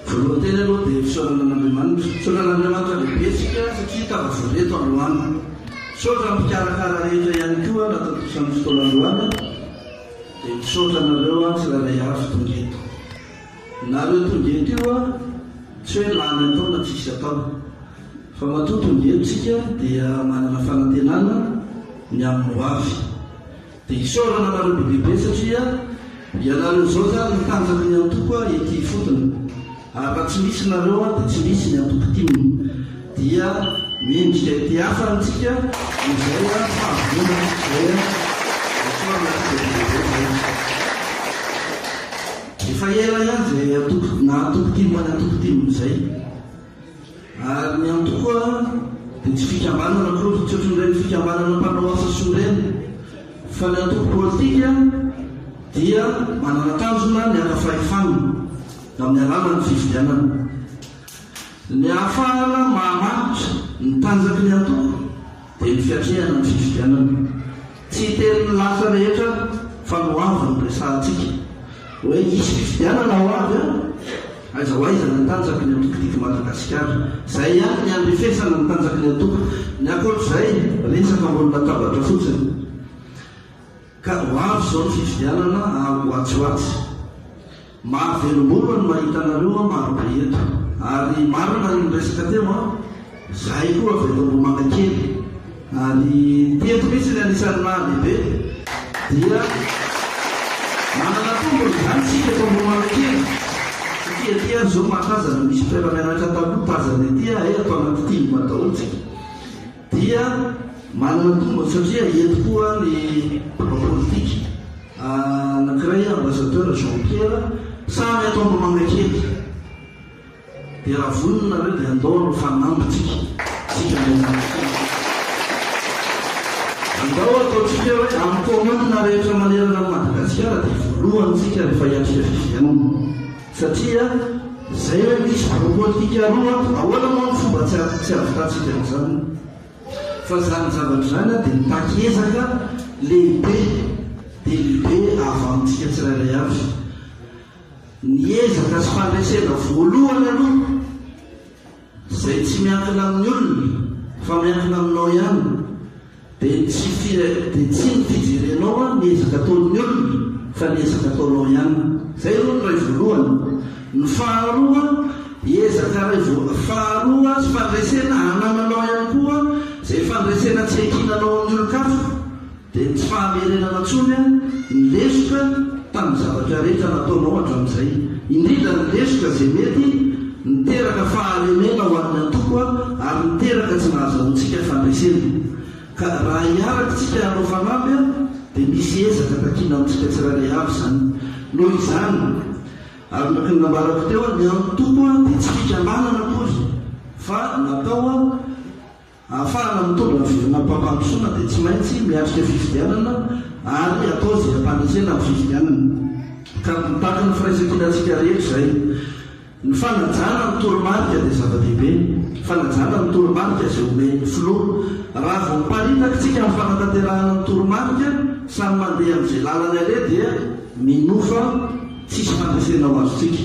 Voalohany teny aloha dia misaotra an'Andriamanitra. Misaotra an'Andriamanitra lehibe isika satria tafavory eto androany. Misaotra ny mpikarakara rehetra ihany koa nahatontosan'ny fotoana androany dia misaotra anareo aho tsirairay avy tonga eto. Nareo tonga eto io aho tsy hoe lany atao na tsisy atao fa matoa tonga eto isika dia manana fanantenana ny amin'ny hoavy. Dia isaorana anareo be dia be satria ianareo izao izany no tanjaky ny antoko ahy ety ifotony. Ary raha tsy misy nareo aho dia tsy misy ny antoko tim. Dia mendrika ety hafany tsika dia izay an fahavonona tsika izay an. Isaorana aty be dia be izay an. Efa ela ihany izay antoko na antoko tim any antoko tim izay. Ary ny antoko koa dia tsy fikambanana akory tsy ohatrin'ireny fikambanana mpanao asa soa ireny fa ny antoko politika dia manana tanjona ny haka fahefana amin'ny alalan'ny fifidianana. Ny ahafahana maha-mahantra ny tanjaky ny antoko. dia ny fiatrehana ny fifidianana. Tsy hiteny ny lahatra rehetra fa ny ho avy no resahantsika. Hoe hisy fifidianana ho avy an! Aiza ho aiza ny tanjaky ny antoko Didy Madagasikara? Izay ihany ny handrefesana ny tanjaky ny antoko. Ny ankoatr'izay, resaka ambony latabatra fotsiny. Ka ho avy izao ny fifidianana ary ho atsy ho atsy. Mahavelom-bolo ny mahita anareo an, maro be eto. Ary marina ny niresaka teo an, izahay koa avy eto Ambohimangakely. Ary teto mihitsy ny anisan'ny nahalehibe dia manana tombony izany isika eto Ambohimangakely. Satria aty ary izao mahatazana misy mpiara-mianatra taloha tazana ety an, hay ato anaty tim daholo isika. dia manana tombony satria eto koa ny mpanao politika anankiray ambassadeur Jean Pierre samy ato Ambohimangakely dia raha vonona nareo dia andao aloha fa nambintsika tsika miazakely andao ataontsika hoe amin'ny commune rehetra manerana an'i Madagasikara dia voalohany tsika rehefa hiatrika fifidianana Satria zay ilay fisotroana politika roa an! Ahoana moa ny fomba tsy tsy hahavitantsika an'izany? Fa izany zavatra izany an dia mitaky ezaka lehibe dia lehibe ahavanintsika tsirairay avy. Ny ezaka sy fandresena voalohany aloha Izay tsy miankina amin'ny olona fa miankina aminao ihany dia tsy dia tsy ny fijerenao an ny ezaka ataon'ny olona fa ny ezaka ataonao ihany. Izay aloha ny iray voalohany. Ny faharoa, ezaka iray voa faharoa sy fandresena anananao ihany koa izay fandresena tsy iankinanao amin'ny olon-kafa Dia tsy fahamerenana intsony ny lesoka tamin'ny zavatra rehetra nataonao hatramin'izay, indrindra ny lesoka izay mety niteraka fahalemena ho an'ny antoko ary niteraka tsy nahazahoantsika fandresena. Ka raha hiaraka isika hanao fanamby dia misy ezaka takiana amintsika tsirairay avy izany. Noho izany, araka ny nambarako teo, ny antoko dia tsy fikambanana akory fa natao. Ahafahana mitondra ny fivorianam-pampandrosoana dia tsy maintsy miatrika fifidianana ary atao izay hampandresena ny fifidianana. Ka mitaky ny firaisan-kinantsika rehetra izay. Ny fanajana ny toromarika dia zava-dehibe. Fanajana ny toromarika izay omen'ny filoha. Raha vao miparitaka isika amin'ny fanatanterahana ny toromarika, samy mandeha amin'izay lalany aleha dia minofa tsisy fandresena ho azontsika.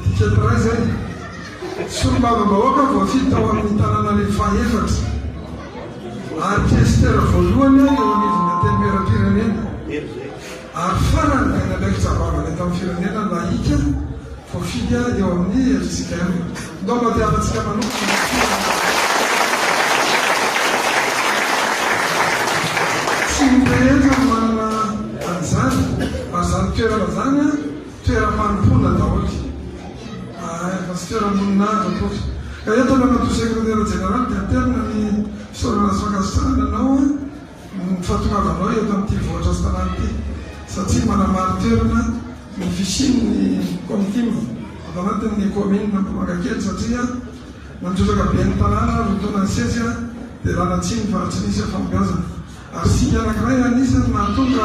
Midika ny ray izay. Solombavambahoaka voafidy tao amin'ny tanànan'ny fahefatra ary kesitera voalohany eo anivon'ny Antenimierampirenena ary farany dia nanaikitra vavany eto amin'ny firenena nahika voafidy eo amin'ny LJKM. Ndao mba tiavantsika manokana ny tsirony rehetra manana an'izany ary izany toerana izany toeram-panompoana daholo ity. Ahay fa tsy toeram-boninahitra akory. Ka eto ilay matoa sekretera jeneraly dia aterina ny fisaorana sy fankasitrahana anao amin'ny fahatongavanao eto amin'ity vohitra sy tanàna ity satria manamari-toerana ny fisian'ny Comtim ato anatin'ny kaominina Ambohimangakely satria nandrotsaka be ny tanàna roa taona nisesy dia làna tsy nifahantrinisa fahombiazana ary singa anankiray anisan'ny nahatonga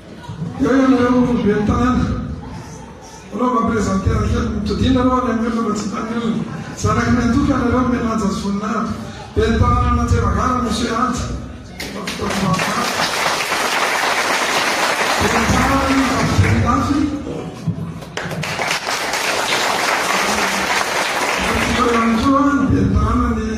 Eo ianareo ry ben'ny tanàna. Alao mba presenter kely ny todiana aloha any amin'ny olona mba tsy hitan'ny olona. Zanaky ny antoko ianareo ry Menanja sy Voninahiko. Ben'ny tanànan'Antsemagara Monsieur Anja. Ben'ny tanànan'i Vafijerindafy. Eo ihany koa ny ben'ny tanànan'i.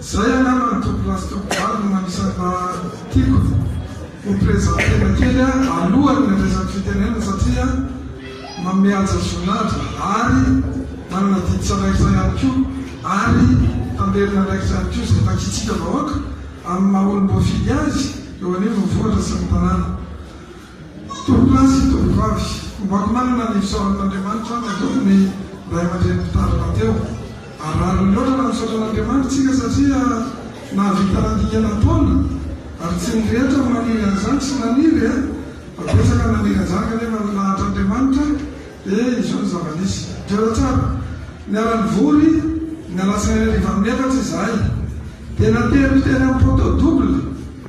Zay angamba ny tompolahy sy tompovavy no anisan'ny mba tiako ho prezantena kely alohan'ny handresako fitenenana satria manome haja sy voninahitrz ary manana didy tsy andraikitra ihany koa ary tamberina andraikitra ihany koa izay takiantsika vahoaka amin'ny maha olom-boafidy azy eo anivon'ny vohitra sy ny tanàna. Mpitoronkala sy tovovavy. Ombako manana ny fisaorana an'Andriamanitra aho natoky ny ray aman-dreny mpitandrina teo. Harary loatra raha misaotra an'Andriamanitra isika satria nahavita nandingana taona, ary tsy ny rehetra no maniry an'izany sy naniry e! Fa betsaka no naniry an'izany kanefa nilahatra Andriamanitra e! Izao ny zava-nisy. Jereo tsara. Niara-nivory ny alatsinainy hariva amin'ny efatra izahay, dia nateriko teny amin'ny poteau double.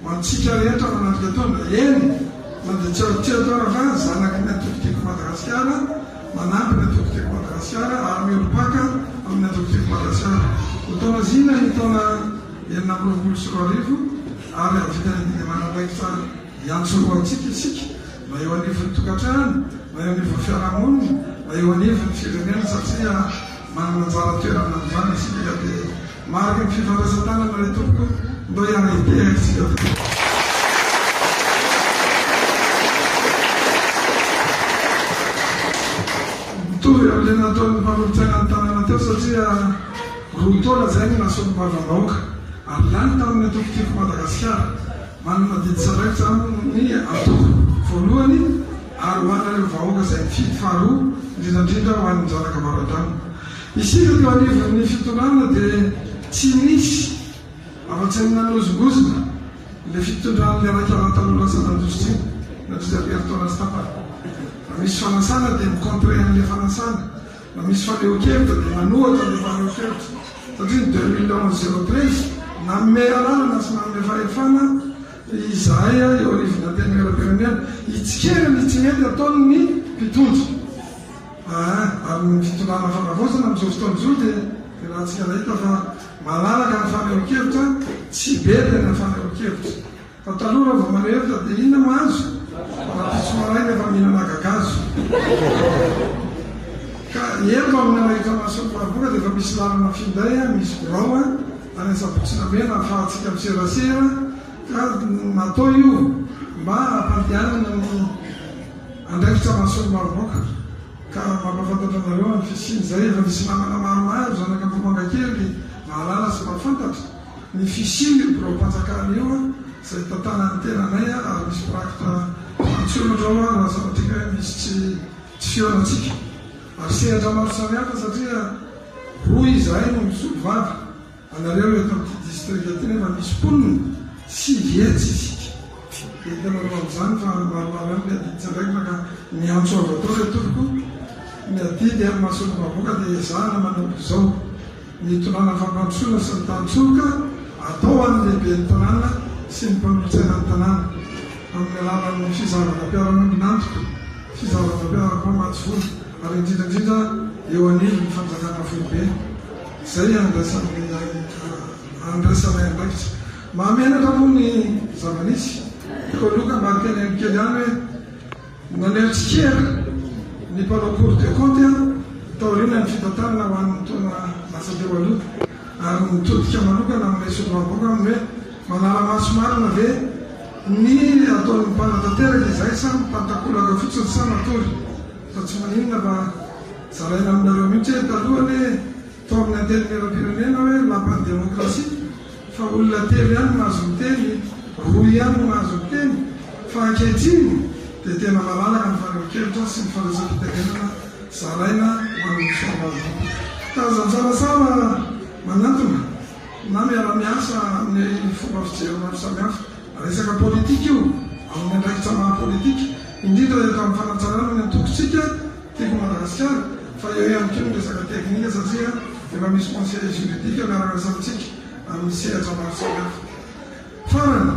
Ho antsika rehetra manatrika taona, eny na dia tsy azo tsy atao raha fa zanaky ny Antoko Tiako Madagasikara, manampy ny Antoko Tiako Madagasikara ary miorim-paka amin'ny Antoko Tiako Madagasikara. Ho taona zina ny taona enina amby roapolo sy roa arivo ary hahavita ny didy aman'andraikitra hiantso roa antsika isika, na eo anivon'ny tokantrano, na eo anivon'ny fiarahamonina, na eo anivon'ny firenena satria. Manana anjara toerana amin'izany isika ka dia marika ny fifandraisan-tanana ry Tompoko mba hiara-hipehantsika tokoa. Mitovy amin'ilay nataon'ny mpanolotsaina ny tanàna teo satria roa taona izay no nasolo-bavambahoaka ary lany tamin'ny antoko Tiako Madagasikara. Manana didy tsy andraikitra aho amin'ny antoko voalohany ary ho anareo vahoaka izay mifidy faharoa, indrindra indrindra ho an'ny zanaka avaradrano. Isika teo anivon'ny fitondrana dia tsy nisy afa-tsy ny nanozongozona ilay fitondran'ilay Raikala taloha lasa nandroso tsy nandritra ny herintaona sy tapany. Raha misy fanasana dia mi-contrer an'ilay fanasana. Raha misy fanehoan-kevitra dia manohatra ny fanehoan-kevitra satria ny deux mille onze zéro treize nanome alalana sy nanome fahefana izahay eo anivon'ny Antenimierampirenena hitsikera ny tsy mety ataon'ny mpitondra ary ny fitondrana fanavaozana amin'izao fotoana izao dia iarahantsika hita fa malalaka ny fanehoan-kevitra, tsy be tena fanehoan-kevitra. Fa taloha raha vao manerta dia inona no azo? Rapiso maray nefa mihinana gagazo. Ka eny mba minanahitra mason'ny Maroboka dia efa misy lalana finday an, misy birao an, any Antsabotsinamena ahafahantsika miserasera ka natao io mba hampandehanana ny andraikitra mason'ny Maroboka. Ka mampahafantatra anareo ny fisian'izay, efa misy namana maromaro, zanak'Ambohimangakely, mahalala sy mahafantatra. Ny fisian io birao mpanjakana io izay hitantana ny tenanay ary misy mpiraki-ta Frantso eo indrao ary lazaintsika hoe misy tsy tsy fihaonantsika ary sehatra maro samihafa satria roa izahay no misolo vava anareo eto amin'ity distrika ity nefa misy mponina sivy etsy isika dia hitanareo amin'izany fa maromaro ihany ny adidy zandraikitra ka miantso azy atao ry tompoko ny adidy amin'ny maha solombavambahoaka dia ezahana manao izao. Ny tonàna fampandrosoana sy ny tantsoroka atao ho an'ny lehiben'ny tanàna sy ny mpanolotsaina ny tanàna, amin'ny alalan'ny fizarandam-piarahamonin'antoko, fizarandam-piarahampamatsy vola, ary indrindra indrindra eo anivon'ny fanjakana foibe, izay andraisanay andraikitra. Mahamenatra moa ny zava-nisy. Tokony ho loka ambadika ny haino kely ihany hoe. Naneho tsikera ny mpanao Cour des Comptes taoriana ny fitantanana ho an'ny taona lasa teo aloha ary nitodika manokana amin'ilay solombavambahoaka aminy hoe manara-maso marina ve ny ataon'ny mpanatanteraka izay sa mitan-takolaka fotsiny sa matory fa tsy maninona fa zaraina aminareo mihitsy hoe taloha anie Toa amin'ny antenimierampirenena hoe lapan'ny demokrasia fa olona telo ihany no mahazo miteny, roa ihany no mahazo miteny fa ankehitriny dia tena malalaka ny fari-pikelitra sy ny fanaisam-pitenenana zaraina ho an'ny fianakaviana. Ka aza misarasara manantona na miara-miasa amin'ny fomba fijery maro samihafa. Resaka politika io amin'ny andraikitra maha-politika, indrindra eto amin'ny fanatsarana ny antokontsika. Tiako mandany sy ahy fa eo ihany koa ny resaka teknika satria efa misy conseil juridique miara-miasa amintsika amin'ny sehatra maro samihafa. Farany,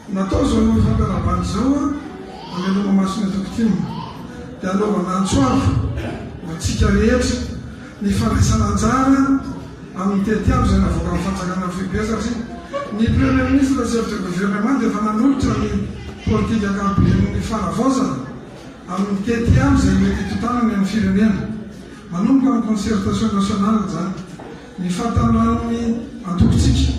natao izao io fampiarabandy izao hameloma maso ny antoko tim dia hanaovana antso avo ho antsika rehetra ny fandraisana anjara amin'ny tetiandro izay navoakan'ny fanjakana ny foibe satria ny Premier Ministre chef de gouvernement dia efa nanolotra ny politika ankapoben'ny fanavaozana ary mitety ihany izay mety hitontanany amin'ny firenena. Manomboka amin'ny concertation nationale izany, ny fahataniran'ny antokontsika,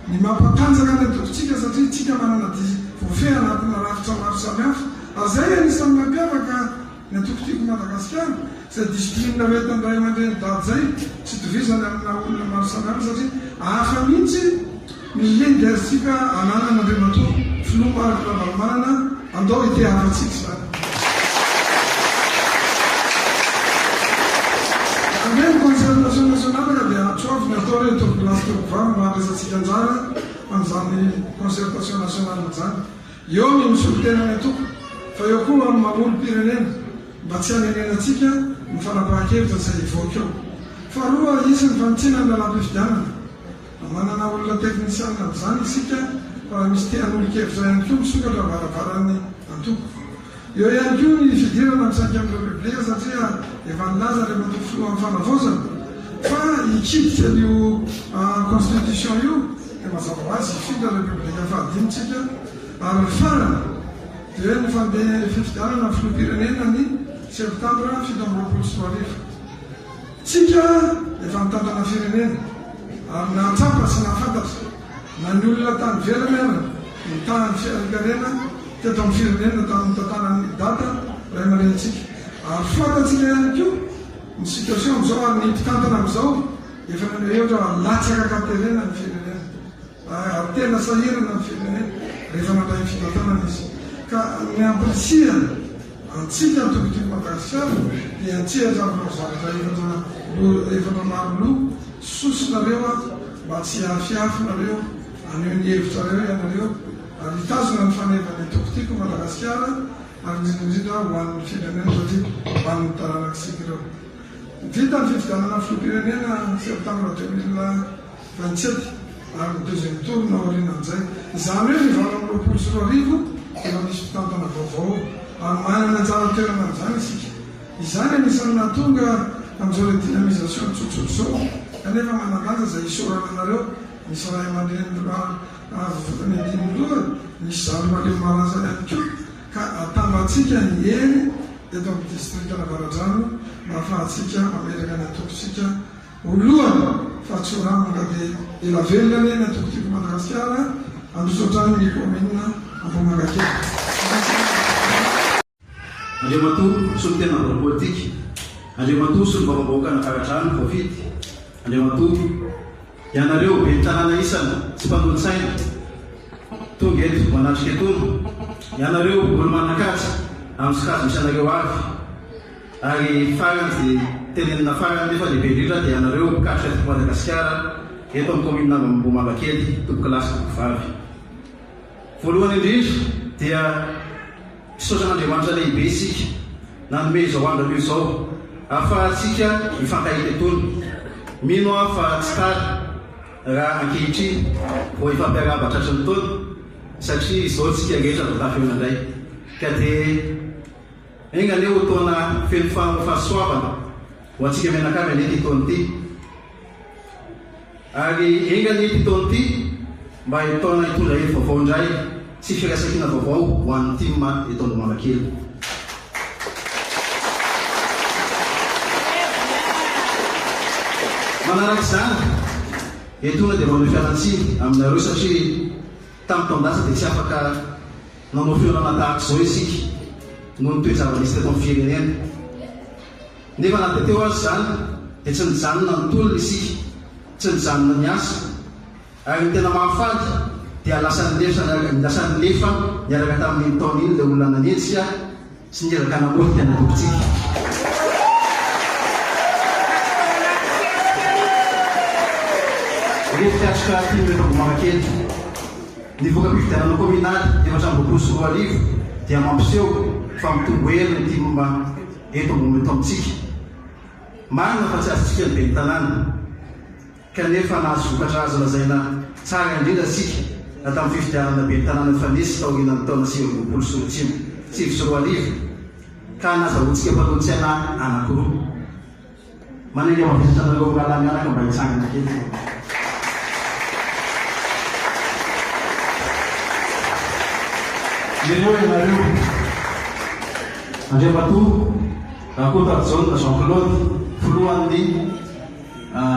ny maha mpatanjaka ny antokontsika satria isika manana dihy voafehy anatina rafitra maro samihafa, ary izay anisan'ny mampiavaka ny Antoko Tiako Madagasikara, izay discipline ho entan'ny Raiamandreny dada izay, tsy itovizany amin'ny maha olona maro samihafa satria hafa mihitsy. Misy ve ny gaztsika ananan Andriamatoa Filoha Marc Ravalomanana? Andao hite hafantsika izany. Raha ve ny concertation nationale ka dia tsoavina atao re toby place toby vava mba handraisantsika anjara amin'izany concertation nationale izany. Eo ny misolo tena ny antoko fa eo koa ny maha olom-pirenena mba tsy hanenenantsika ny fanapahan-kevitra izay hivoaka eo. Faharoa, hisy ny fanitsiana ny lalam-pifidianana. Manana olona teknisianina amin'izany isika fa raha misy te hanolo-kevitra ihany koa misokatra ny varavaran'ny antoko. Eo ihany koa ny fidirana misaika amin'ireo bebleha satria efa nilaza ilay matoa filohan'ny fanavaozana fa hikiditra an'io constitution io dia mazava ho azy hifindra ireo bebleha fahadimy tsika ary ny farany dia ny fandeha fifidianana filoham-pirenena ny septambra fito amby roapolo sy roa arivo. Tsika efa nitantana firenena ary nahatsapa sy nahafantatra na ny olona tany ivelany ara ny tahan'ny fiarenkarena teto amin'ny firenena tamin'ny tantaran'ny dada raimarenintsika ary fantatsika ihany koa ny situation amin'izao ary ny mpitantana amin'izao efa nanaeotra latsaka katerena ny firenena Ary tena sahirana ny firenena rehefa mandray ny fitantanana izy. Ka ny hampirisihana antsika antokontokon'i Madagasikara dia an-tsehatra amin'ireo zavatra efatra loha, efatra maro loha, sosinareo ato mba tsy hiafiafy nareo, haneho ny hevitrareo ianareo ary hitazona ny faneva ny antokontiko i Madagasikara ary indrindra indrindra ho an'ny firenena satria ho an'ny taranak'isika ireo. Vita ny fifidianana filoham-pirenena septambra deux mille. raha ny tsy hety, ary ny deuxième tour ny aorianan'izay. Izany hoe ny valo amby roapolo sy roa arivo dia efa misy mpitantana vaovao, ary manana ny anjara toerana amin'izany isika. Izany anisan'ny nahatonga an'izao le dynamisation tsotsotra izao, kanefa manan-danja izay isaorana anareo, misy ray aman-dreny roa avy votany Andinoloha, misy zandry mahaleo malaza ihany koa, ka atambatsika ny hery eto amin'ny distrikan'Avaradrano mba hahafahantsika mametraka ny antontsika. Voalohany, fa tsy ho rambaka dia ela velona anie ny antokotiko Madagasikara handroso hatrany ny kaominina Ambohimangakely. Andriamatoa Solontenan'ny Biraon'ny Politika, Andriamatoa Solombavambahoakan'ny Fagadrano voafidy, Andriamatoa, ianareo Ben'ny Tanàna isany tsy mpanolotsaina tonga eto manatrika etoana, ianareo olo-manan-kaja amin'ny sokajy misy anareo avy, Ary farany sy tenenina farany nefa lehibe indrindra dia anareo mpikatroka teto Madagasikara, eto amin'ny kaominina Ambohimangakely, tompoko lahy sy tompoko vavy. Voalohany indrindra dia misaotra an'Andriamanitra lehibe isika nanome izao andro anio izao ahafahantsika mifankahita itony. Mino aho fa tsy tara raha ankehitriny vao hifampiarahaba tratry ny taona satria izao isika rehetra vao tafeona indray ka dia. Enga anie ho taona feno fahasoavana ho antsika mianakavy anie ity taona ity. Ary enga anie ity taona ity mba ho taona hitondra hery vaovao indray sy firaisankina vaovao ho an'ny tim eto Ambohimanakely. Manaraka izany, etoana dia manome fialantsiny aminareo satria. Tamin'ny taon-dasa dia tsy afaka nanao fihaonana tahaka izao isika noho ny toe-java-misy teto amin'ny firenena. Nefa na dia teo aza izany dia tsy nijanona ny tolona isika, tsy nijanona ny asa. Ary ny tena mahafaly dia lasa nilefa niaraka tamin'iny taona iny ilay olona nanenjika, Tsingerin-tanambao ny tena tompontsika. Revy fiatrika tim eto Ambohimarakely. Ny voka-pifidianana kaominaly efatra amby roapolo sy roa arivo dia mampiseho fa mitombo hery ny tim eto Ambohimatoa amintsika. Marina fa tsy azontsika ny ben'ny tanàna. Kanefa nahazo vokatra azo lazaina tsara indrindra isika na tamin'ny fifidianana ben'ny tanàna nifanesy taorianan'ny taona sivy amby roapolo sy roa tsimy, sivy sy roa arivo, ka nazahoantsika mpanao tsy anahy anankiroa. Manainga mavesatra anareo mirahalahy mianaka mba hitsangana kely ve. Ireo ianareo, Andriamatoa Rakotoarijaona Jean Claude, filohan'ny.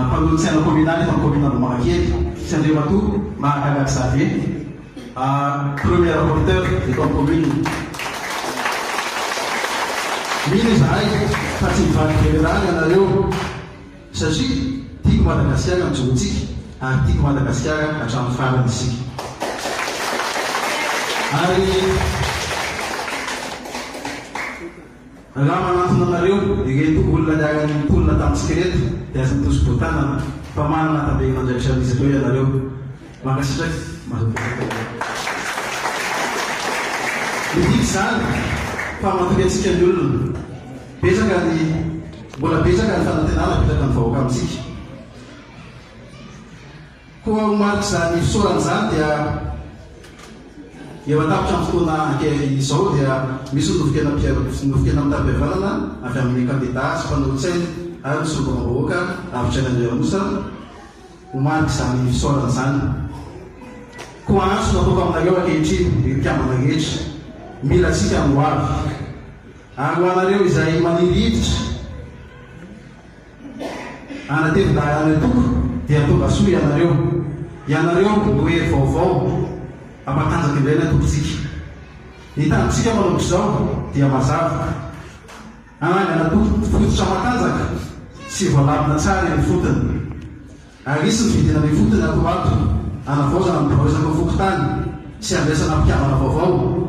Mpanolo tsaina kominaly eto amin'ny kaominina Ambohimanakely sy Andriamatoa Mahagaga Xavier, premier rapporteur eto amin'ny kaominina. Mino izahay fa tsy hivadika eny an-dàlana ianareo satria tiako Madagasikara ny jorontsika ary tiako Madagasikara hatramin'ny farany isika. Ary. Raha manantona anareo ireto olona niara nitolona tamintsika ireto dia aza mitosi-boa tanana fa manana antabehin' Andraikitra miisa teo ianareo. Mankasitraka. Mazoto betsaka ianareo. Midika izany fa matoky antsika ny olona. Betsaka ny Mbola betsaka ny fanantenana apetraka ny vahoaka amintsika. Koa ho marik'izany fisaorana izany dia eo an-tapitran'ny fotoana ankehitriny izao dia misy ny nofon-kena mpiaro ny nofon-kena mitam-pihavanana avy amin'ny kandidà sy mpanolotsainy ary ny solombavambahoaka Ravitraina Andriarosa ho marik'izany fisaorana izany. Koa antso no ataoko aminareo ankehitriny ry mpikambana rehetra mila antsika ny hoavy ary ho anareo izay maniry hiditra Anatevin-dalàna tokoa dia tongasoa ianareo, ianareo no hery vaovao hampatanjaka indray ny antokontsika. Ny tanjontsika manomboka izao dia mazava, hanangana antoko fototra matanjaka sy voalamina tsara eny ifotony. Ary hisy ny vidinana ifotony ato ato hanavaozana ny biraon'iraka fokontany sy handraisana mpikambana vaovao.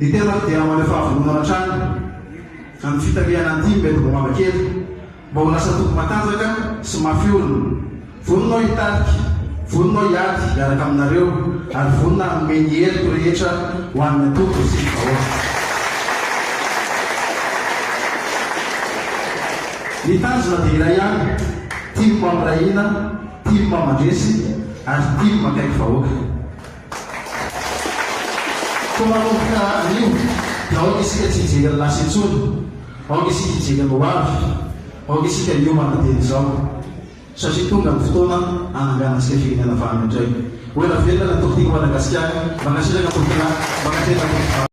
Ny tenako dia maneho fahavononana hatrany amin'ny fitarihana ny tim eto Bovabakely mba ho lasa toby matanjaka sy mafy orina. Vonona aho hitarika, vonona aho hiady hiaraka aminareo ary vonona hanome ny heriko rehetra ho an'ny antoko sy ny vahoaka. Ny tanjona dia iray ihany, tim mamiray hina, tim mandresy ary tim akaiky vahoaka. Koa manomboka anio dia aoka isika tsy hijery ny lasa intsony, aoka isika hijery ny hoavy, aoka isika hiomana dieny izao satria tonga ny fotoana hananganantsika firenena vahana indray. Ho ela velona ny Tompo tiako Madagasikara, mankasitraka tompokolahy, mankasitraka tompokivavy.